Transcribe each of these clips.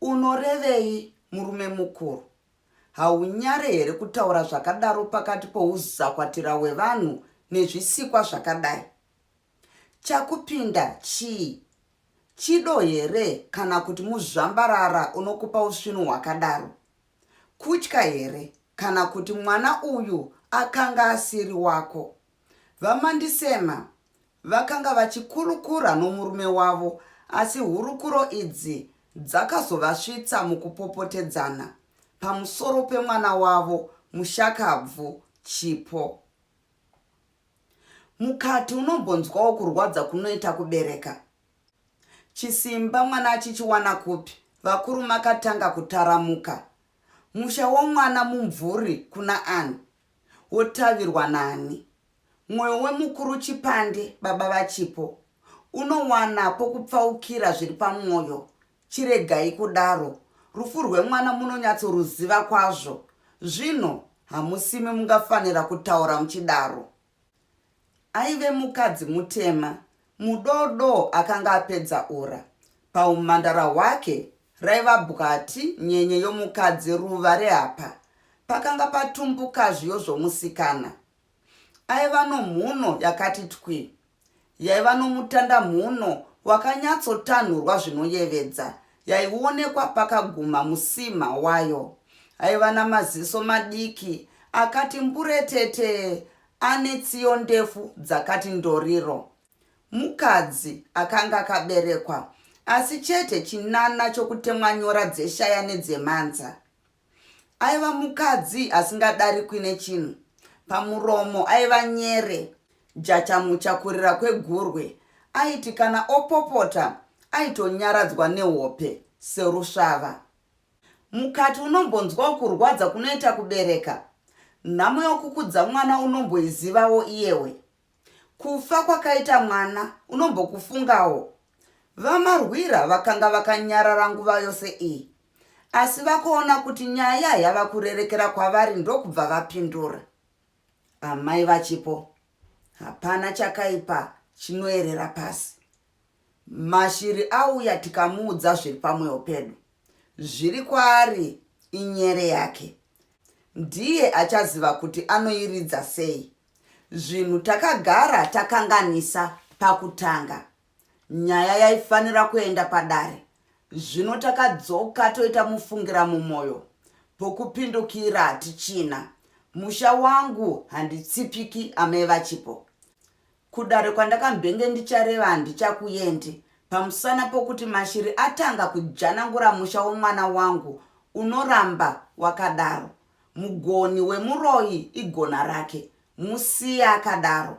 Unorevei murume mukuru? Haunyare here kutaura zvakadaro pakati pouzakwatira hwevanhu nezvisikwa zvakadai? Chakupinda chii? Chido here kana kuti muzvambarara unokupa usvinu hwakadaro? Kutya here kana kuti mwana uyu akanga asiri wako? VaMandisema vakanga vachikurukura nomurume wavo asi hurukuro idzi dzakazovasvitsa mukupopotedzana pamusoro pemwana wavo mushakabvu Chipo. Mukati unombonzwawo kurwadza kunoita kubereka. Chisimba mwana achichiwana kupi? Vakuru makatanga kutaramuka. Musha womwana mumvuri kuna ani? wotavirwa nani? Mwoyo wemukuru Chipande, baba vaChipo, unowana pokupfaukira zviri pamwoyo. Chiregai kudaro. Rufu rwemwana munonyatsoruziva kwazvo. Zvino, hamusimi mungafanira kutaura muchidaro. Aive mukadzi mutema, mudodoo akanga apedza ura. Pahumhandara hwake raiva bwati nyenye yomukadzi ruva reapa pakanga patumbuka zviyo zvomusikana. Aiva nomhuno yakati twi. yaiva nomutanda mhuno wakanyatsotanhurwa zvinoyevedza, yaionekwa pakaguma musima wayo. Aiva namaziso madiki akati mburetete ane tsiyo ndefu dzakati ndoriro. Mukadzi akanga akaberekwa, asi chete chinana chokutemwa nyora dzeshaya nedzemanza. Aiva mukadzi asingadarikwi nechinhu. Pamuromo aiva nyere, jachamucha kurira kwegurwe. Aiti kana opopota aitonyaradzwa nehope serusvava. Mukati unombonzwawo kurwadza kunoita kubereka. Nhamo yokukudza mwana unomboizivawo iyewe. Kufa kwakaita mwana unombokufungawo. VaMarwira vakanga vakanyarara nguva yose iyi, asi vakuona kuti nyaya yava kurerekera kwavari ndokubva vapindura. Amai vachipo, hapana chakaipa chinoerera pasi. Mashiri auya tikamuudza zviri pamweyo pedu. Zviri kwaari inyere yake. Ndiye achaziva kuti anoiridza sei. Zvinhu takagara takanganisa pakutanga. Nyaya yaifanira kuenda padare. Zvino takadzoka toita mufungira mumoyo. Pokupindukira hatichina. Musha wangu handitsipiki amai vachipo. Kudare kwandakambenge ndichareva handichakuendi pamusana pokuti mashiri atanga kujanangura musha womwana wangu unoramba wakadaro. Mugoni wemuroyi igona rake musiye akadaro.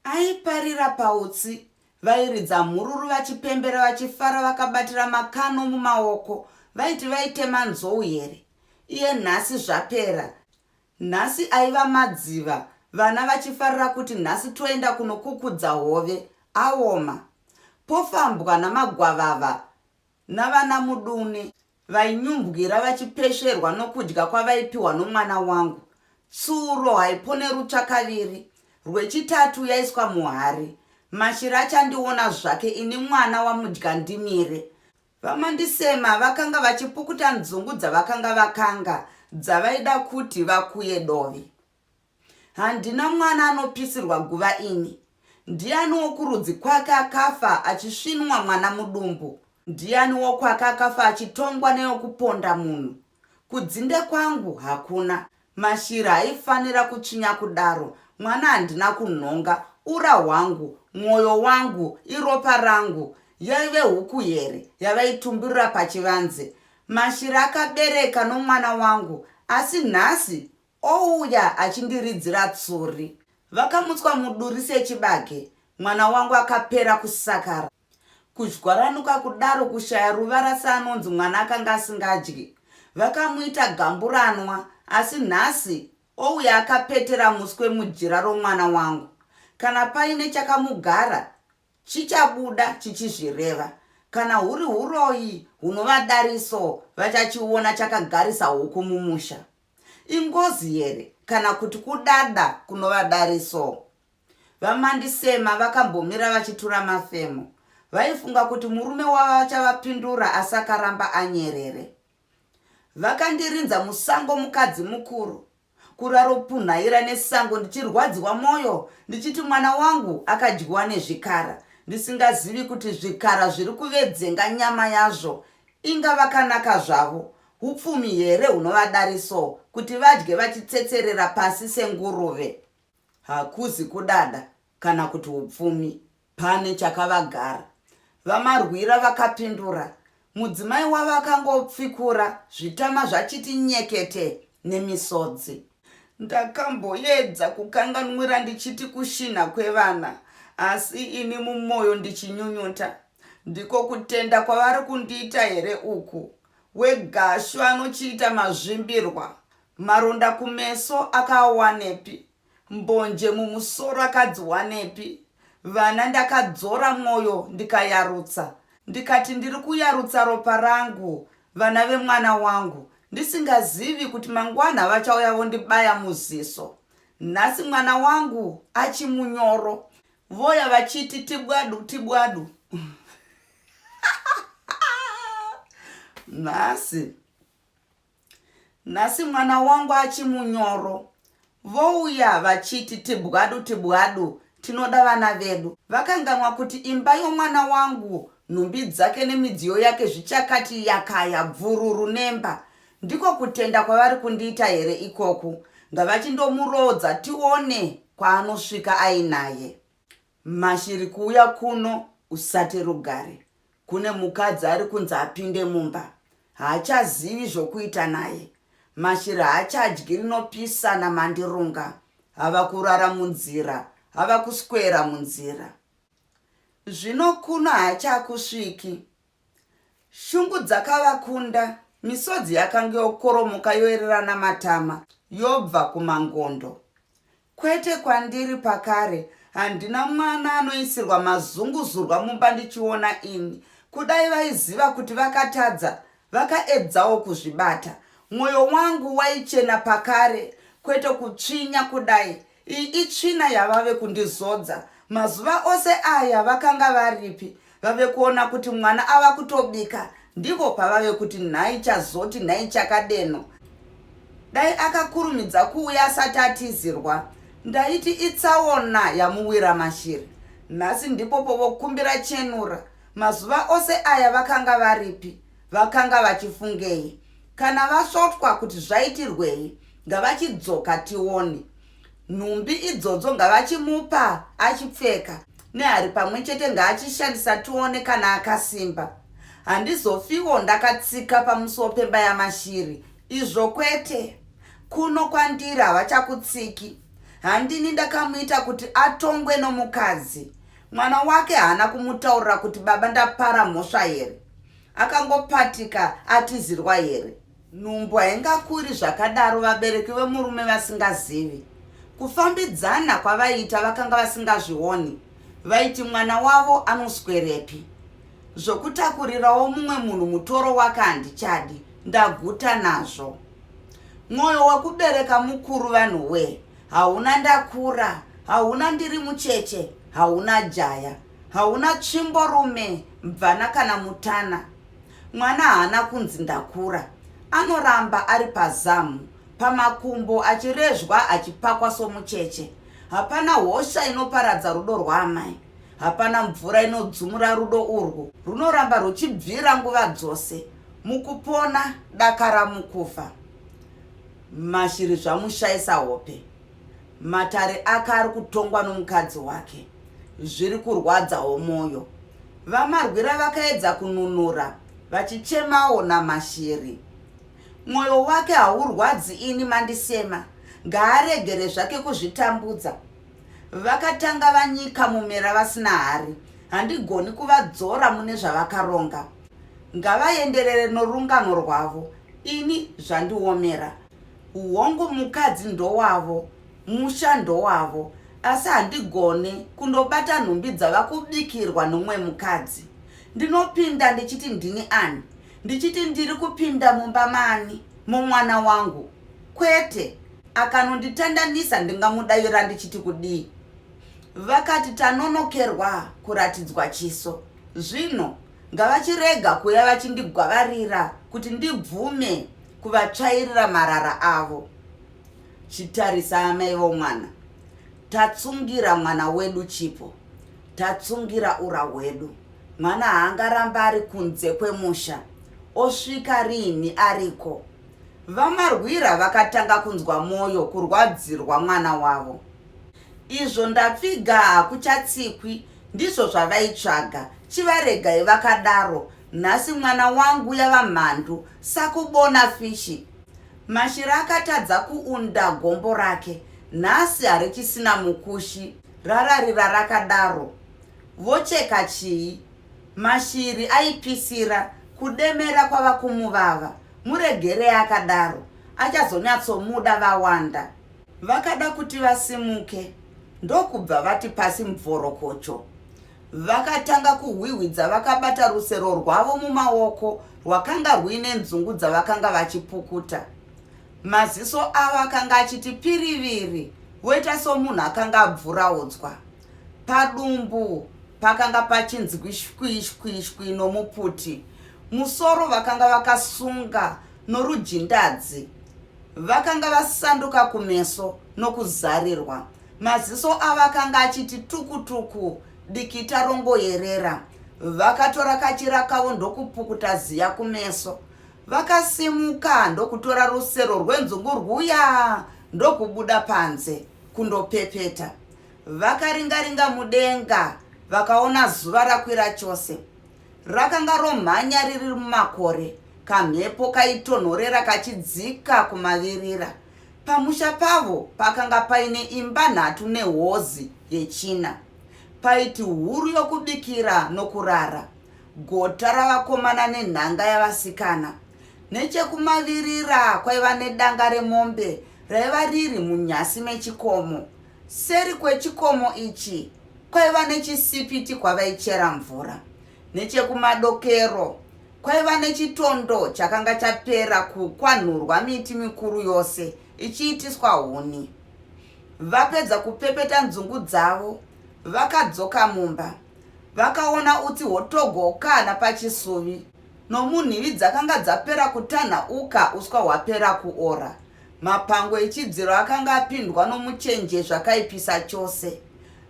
Aiparira pautsi vairidza mhururu vachipembera vachifara vakabatira makano mumaoko vaiti vaitema nzou here iye nhasi zvapera nhasi aiva madziva vana vachifarira kuti nhasi toenda kunokukudza hove aoma pofambwa namagwavava navana mudune vainyumbwira vachipesherwa nokudya kwavaipiwa nomwana wangu tsuro haipone rutsva kaviri rwechitatu yaiswa muhari mashiri achandiona zvake ini mwana wamudya ndimire vamandisema vakanga vachipukuta nzungu dzavakanga vakanga dzavaida kuti vakuye dovi Handina mwana anopisirwa guva ini. Ndiani wokurudzi kwake akafa achisvinwa mwana mudumbu? Ndiani wokwake akafa achitongwa neyokuponda munhu? Kudzinde kwangu hakuna. Mashiri haifanira kutsvinya kudaro. Mwana handina kunhonga. Ura hwangu, mwoyo wangu, iropa rangu. Yaive huku here yavaitumburira pachivanze? Mashiri akabereka nomwana wangu, asi nhasi Ouya achindiridzira tsuri. Vakamutswa muduri sechibage. Mwana wangu akapera kusakara. Kuzhwaranuka kudaro kushaya ruvara seanonzi mwana akanga asingadyi. Vakamuita gamburanwa asi nhasi ouya akapetera muswe mujira romwana wangu. Kana paine chakamugara chichabuda chichizvireva. Kana huri huroyi hunova dariso vachachiona chakagarisa huku mumusha. Ingozi here kana kuti kudada kunova dare so? VaMandisema vakambomira vachitura mafemo. Vaifunga kuti murume wavo achavapindura asi akaramba anyerere. Vakandirinza musango mukadzi mukuru. Kuraropunhaira nesango ndichirwadziwa mwoyo ndichiti mwana wangu akadyiwa nezvikara ndisingazivi kuti zvikara zviri kuvedzenga nyama yazvo. Inga vakanaka zvavo. Hupfumi here hunovadari so kuti vadye vachitsetserera pasi senguruve? Hakuzi kudada kana kuti hupfumi, pane chakavagara. VaMarwira vakapindura, mudzimai wavo akangopfikura zvitama zvachiti nyekete nemisodzi. Ndakamboedza kukanganwira ndichiti kushinha kwevana asi ini mumoyo ndichinyunyuta. Ndiko kutenda kwavari kundiita here uku? weGashu anochiita mazvimbirwa, maronda kumeso akaawanepi, mbonje mumusoro akadziwanepi, vana ndakadzora mwoyo ndikayarutsa, ndikati ndiri kuyarutsa ropa rangu, vana vemwana wangu, ndisingazivi kuti mangwana vachauya vondibaya muziso. Nhasi mwana wangu achimunyoro, Voya vachiti tibwadu tibwadu. Nhasi. Nhasi mwana wangu achimunyoro. Vouya vachiti tibwadu tibwadu tinoda vana vedu. Vakanganwa kuti imba yomwana wangu nhumbi dzake nemidziyo yake zvichakati yakaya bvururu nemba. Ndiko kutenda kwavari kundiita here ikoku? Ngavachindomuroodza tione kwaanosvika ainaye. Mashiri kuuya kuno usate rugare. Kune mukadzi ari kunzi apinde mumba. Haachazivi zvokuita naye. Mashiri haachadyi rinopisa namandirunga. Hava kurara munzira. Hava kuswera munzira. Zvino kuno haachakusviki. Shungu dzakavakunda, misodzi yakange yokoromoka yoererana matama, yobva kumangondo. Kwete kwandiri pakare, handina mwana anoisirwa mazunguzurwa mumba ndichiona ini. Kudai vaiziva kuti vakatadza, vakaedzawo kuzvibata. Mwoyo wangu waichena pakare, kwete kutsvinya kudai, Iyi itsvina yavave kundizodza. Mazuva ose aya vakanga varipi? Vave kuona kuti mwana ava kutobika ndipo pavave kuti nhai chazoti nhai chakadeno. Dai akakurumidza kuuya asati atizirwa. Ndaiti itsaona yamuwira mashiri. Nhasi ndipo povokumbira chenura. Mazuva ose aya vakanga varipi? Vakanga vachifungei? Kana vasvotwa kuti zvaitirwei, ngavachidzoka tione. Nhumbi idzodzo ngavachimupa achipfeka, nehari pamwe chete ngaachishandisa tione kana akasimba. Handizofiwo ndakatsika pamusuwo pemba yaMashiri, izvo kwete. Kuno kwandiri havachakutsiki. Handini ndakamuita kuti atongwe nomukadzi. Mwana wake haana kumutaurira kuti baba ndapara mhosva here? akangopatika atizirwa here nhumbu haingakuri zvakadaro vabereki vemurume vasingazivi kufambidzana kwavaiita vakanga vasingazvioni vaiti mwana wavo anoswerepi zvokutakurirawo mumwe munhu mutoro wake handichadi ndaguta nazvo mwoyo wekubereka mukuru vanhu wee hauna ndakura hauna ndiri mucheche hauna jaya Hauna tsvimbo rume mvana kana mutana. Mwana haana kunzi ndakura. Anoramba ari pazamu, pamakumbo achirezvwa achipakwa somucheche. Hapana hosha inoparadza rudo rwaamai. Hapana mvura inodzumura rudo urwu. Runoramba ruchibvira nguva dzose. Mukupona, dakara mukufa. Mashiri zvamushaisa hope. Matare ake ari kutongwa nomukadzi wake zviri kurwadzawo mwoyo. VaMarwira vakaedza kununura vachichemawo naMashiri. Mwoyo wake haurwadzi ini mandisema, ngaaregere zvake kuzvitambudza. Vakatanga vanyika mumera vasina hari, handigoni kuvadzora mune zvavakaronga. Ngavaenderere norungano rwavo, ini zvandiomera. Hongu mukadzi ndowavo, musha ndowavo asi handigone kundobata nhumbi dzava kubikirwa nomumwe mukadzi. Ndinopinda ndichiti ndini ani? Ndichiti ndiri kupinda mumba mani? Mumwana wangu? Kwete! Akanonditandanisa ndingamudavira ndichiti kudii? Vakati tanonokerwa kuratidzwa chiso. Zvino. Ngavachirega kuuya vachindigwavarira kuti ndibvume kuvatsvairira marara avo. Chitarisa amai vomwana. Tatsungira mwana wedu chipo. Tatsungira ura hwedu. Mwana haangaramba ari kunze kwemusha. Osvika riini ariko. VaMarwira vakatanga kunzwa mwoyo kurwadzirwa mwana wavo. Izvo ndapfiga hakuchatsikwi Ndizvo zvavaitsvaga, chivaregai vakadaro. Nhasi mwana wangu yava mhandu, sakubona fishi. Mashira akatadza kuunda gombo rake, nhasi harichisina mukushi. Rararira rakadaro. Vocheka chii? Mashiri aipisira, kudemera kwava kumuvava. Muregerei akadaro, achazonyatsomuda vawanda. Vakada kuti vasimuke ndokubva vati pasi mubvorokocho. Vakatanga kuhwihwidza vakabata rusero rwavo mumaoko rwakanga rwuine nzungu dzavakanga vachipukuta. Maziso avo akanga achiti piriviri voita somunhu akanga abvuraudzwa. Padumbu pakanga pachinzi kwishwishwishwi nomuputi. Musoro vakanga vakasunga norujindadzi. Vakanga vasanduka kumeso nokuzarirwa. Maziso avo akanga achiti tukutuku, dikita rongoyerera. Vakatora kachira kavo ndokupukuta ziya kumeso. Vakasimuka ndokutora rusero rwenzungu rwuya ndokubuda panze kundopepeta. Vakaringaringa mudenga vakaona zuva rakwira chose. Rakanga romhanya riri mumakore, kamhepo kaitonhorera kachidzika kumavirira. Pamusha pavo pakanga paine imba nhatu nehozi yechina. Paiti huru yokubikira nokurara, gota ravakomana nenhanga yavasikana. Nechekumavirira kwaiva nedanga remombe raiva riri munyasi mechikomo. Seri kwechikomo ichi kwaiva nechisipiti kwavaichera mvura. Nechekumadokero kwaiva nechitondo chakanga chapera kukwanhurwa miti mikuru yose ichiitiswa huni. Vapedza kupepeta nzungu dzavo, vakadzoka mumba. Vakaona utsi hwotogokana pachisuvi nomunhivi dzakanga dzapera kutanhauka uswa hwapera kuora. Mapango echidziro akanga apindwa nomuchenje zvakaipisa chose.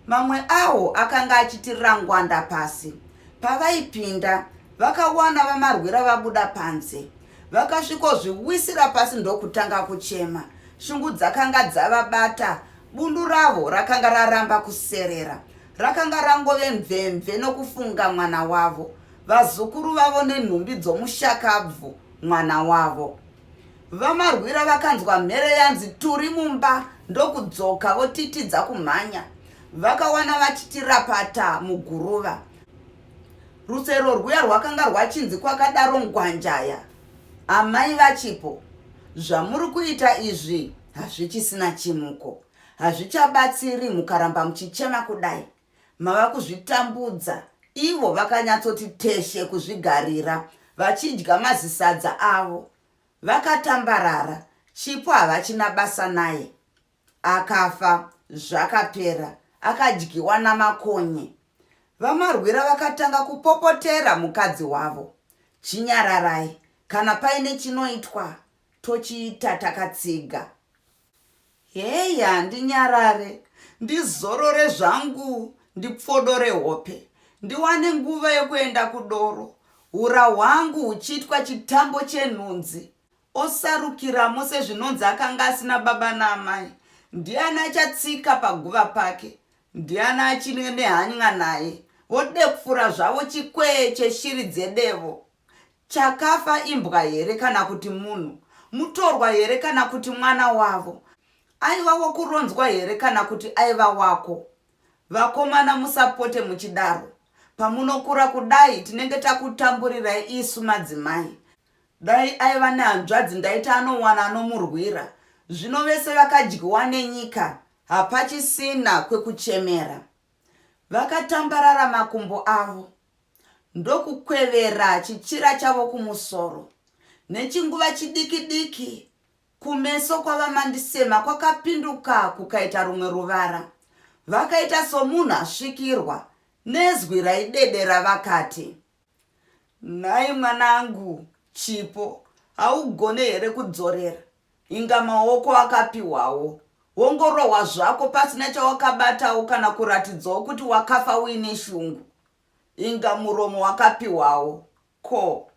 Mamwe awo akanga achitirira ngwanda pasi. Pavaipinda, vakawana vamarwira vabuda panze. Vakasvikozviwisira pasi ndokutanga kuchema. Shungu dzakanga dzavabata. Bundu ravo rakanga raramba kuserera. Rakanga rangove mvemve nokufunga mwana wavo, vazukuru vavo nenhumbi dzomushakabvu mwana wavo. VaMarwira vakanzwa mhere yanzi turi mumba ndokudzoka votitidza kumhanya. Vakawana vachitirapata muguruva. Rusero rwuya rwakanga rwachinzi kwakadaro Ngwanjaya. Amai vachipo, zvamuri kuita izvi hazvichisina chimuko. Hazvichabatsiri mukaramba muchichema kudai. Mava kuzvitambudza ivo vakanyatsoti teshe kuzvigarira vachidya mazisadza avo vakatambarara Chipo havachina basa naye akafa zvakapera akadyiwa namakonye VaMarwira vakatanga kupopotera mukadzi wavo Chinyararai kana paine chinoitwa tochiita takatsiga Hey handinyarare ndizorore zvangu ndipfodore hope ndiwane nguva yekuenda kudoro hura hwangu huchiitwa chitambo chenhunzi osarukiramo sezvinonzi akanga asina baba naamai ndiani achatsika paguva pake ndiani achinwe nehany'a naye vodepfura zvavo chikwee cheshiri dzedevo Chakafa imbwa here kana kuti munhu? Mutorwa here kana kuti mwana wavo? Aiva wakuronzwa here kana kuti aiva wako? Vakomana musapote muchidaro. Pamunokura kudai tinenge takutamburirai isu madzimai. Dai aiva nehanzvadzi ndaiti anowana anomurwira. Zvino vese vakadyiwa nenyika hapachisina kwekuchemera. Vakatambarara makumbo avo. ndokukwevera chichira chavo kumusoro. Nechinguva chidiki-diki, kumeso kwaVaMandisema kwakapinduka kukaita rumwe ruvara. Vakaita somunhu asvikirwa, nezwi raidedera vakati. Nhai mwanangu Chipo, haugone here kudzorera? Inga maoko akapihwawo. Wongorohwa zvako pasina chawakabatawo kana kuratidzawo kuti wakafa uine shungu. Inga muromo wakapihwawo. Ko.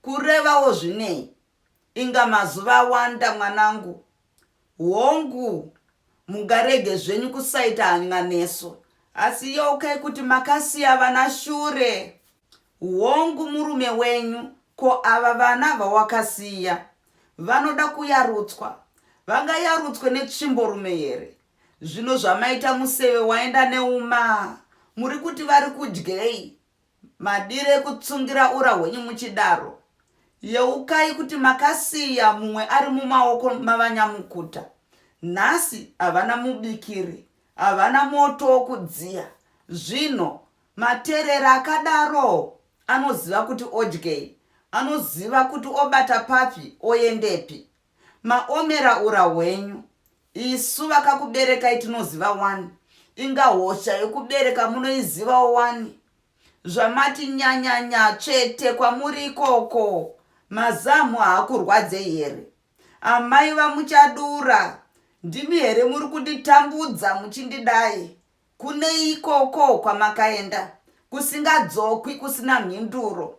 Kurevawo zvinei? Inga mazuva awanda mwanangu. Hongu. Mungarege zvenyu kusaita hanya nesu. Asi yeukai kuti makasiya vana shure. Hongu murume wenyu ko ava vana vawakasiya vanoda kuyarutswa vangayarutswe netsvimbo rume here zvino zvamaita museve waenda neuma murikuti vari kudyei madiro ekutsungira ura hwenyu muchidaro yeukai kuti makasiya mumwe ari mumaoko mavanyamukuta nhasi havana mubikiri havana moto wokudziya zvino Materera akadaro anoziva kuti odyei, anoziva kuti obata papi oendepi. Maomera ura hwenyu. Isu vakakuberekai tinoziva wani, inga hosha yokubereka munoizivawo wani. Zvamati nyanyanya tsvete kwamuri ikoko, mazamhu haakurwadzei here? Amai vaMuchadura, ndimi here muri kunditambudza muchindidai? Kune ikoko kwamakaenda kusingadzokwi kusina mhinduro.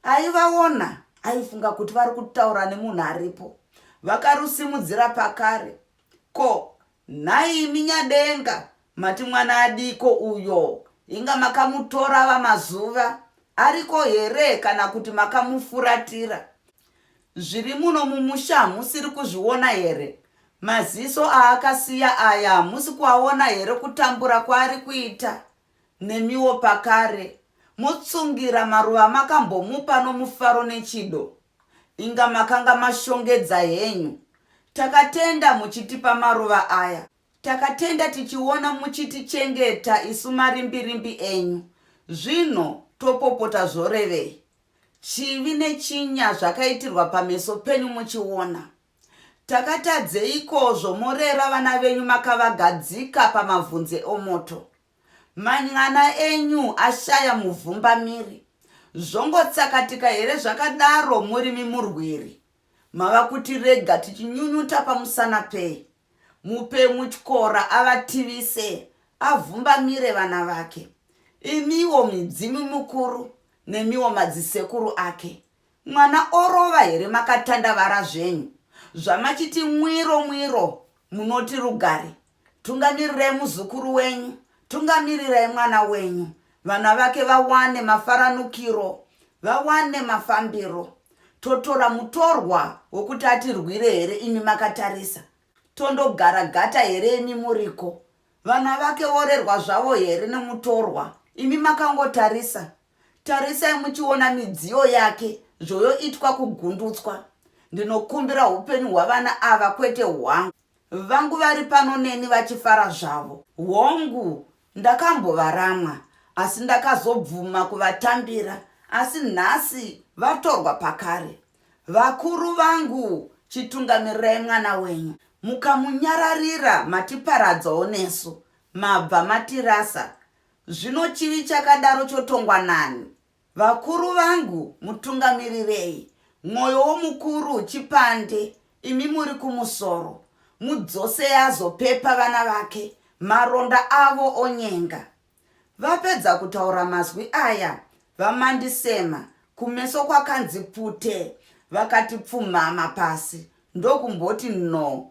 Aivaona aifunga kuti vari kutaura nemunhu aripo. Vakarusimudzira pakare. Ko, nhai imi Nyadenga mati mwana adiiko uyo? Inga makamutora ava mazuva ariko here kana kuti makamufuratira? Zviri muno mumusha hamusiri kuzviona here? Maziso aakasiya aya hamusi kuaona here kutambura kwaari kuita nemiwo pakare? Motsungira maruva amakambomupa nomufaro nechido? Inga makanga mashongedza henyu. Takatenda muchitipa maruva aya. Takatenda tichiona muchitichengeta isu marimbirimbi enyu. Zvino topopota zvorevei? Chivi nechinya zvakaitirwa pameso penyu muchiona. Takatadzeiko zvomorera vana venyu makavagadzika pamavhunze omoto? Man'ana enyu ashaya muvhumbamiri. Zvongotsakatika here zvakadaro murimi murwiri? Mava kuti rega tichinyunyuta pamusana pei? Mupei mutyora avativise, avhumbamire vana vake. Imiwo midzimu mikuru nemiwo madzisekuru ake, mwana orova here makatandavara zvenyu? Zvamachiti mwiro mwiro munoti rugare Tungamirirai muzukuru wenyu, tungamirirai mwana wenyu, vana vake vawane mafaranukiro, vawane mafambiro. Totora mutorwa wokuti atirwire here imi makatarisa? Tondogara gata here imi muriko? Vana vake vorerwa zvavo here nemutorwa? Imi makangotarisa. Tarisai muchiona midziyo yake zvoyoitwa kugundutswa. Ndinokumbira upenyu hwavana ava kwete hwangu. Vangu vari pano neni vachifara zvavo. Hongu, ndakambovaramwa asi ndakazobvuma kuvatambira asi nhasi vatorwa pakare. Vakuru vangu chitungamirai mwana wenyu. Mukamunyararira matiparadzawo nesu. Mabva matirasa. Zvino chivi chakadaro chotongwa nani? Vakuru vangu mutungamirirei mwoyo womukuru chipande imi muri kumusoro mudzosei azopepa vana vake maronda avo onyenga. Vapedza kutaura mazwi aya VaMandisema kumeso kwakanzi pute vakati pfumhama pasi ndokumboti no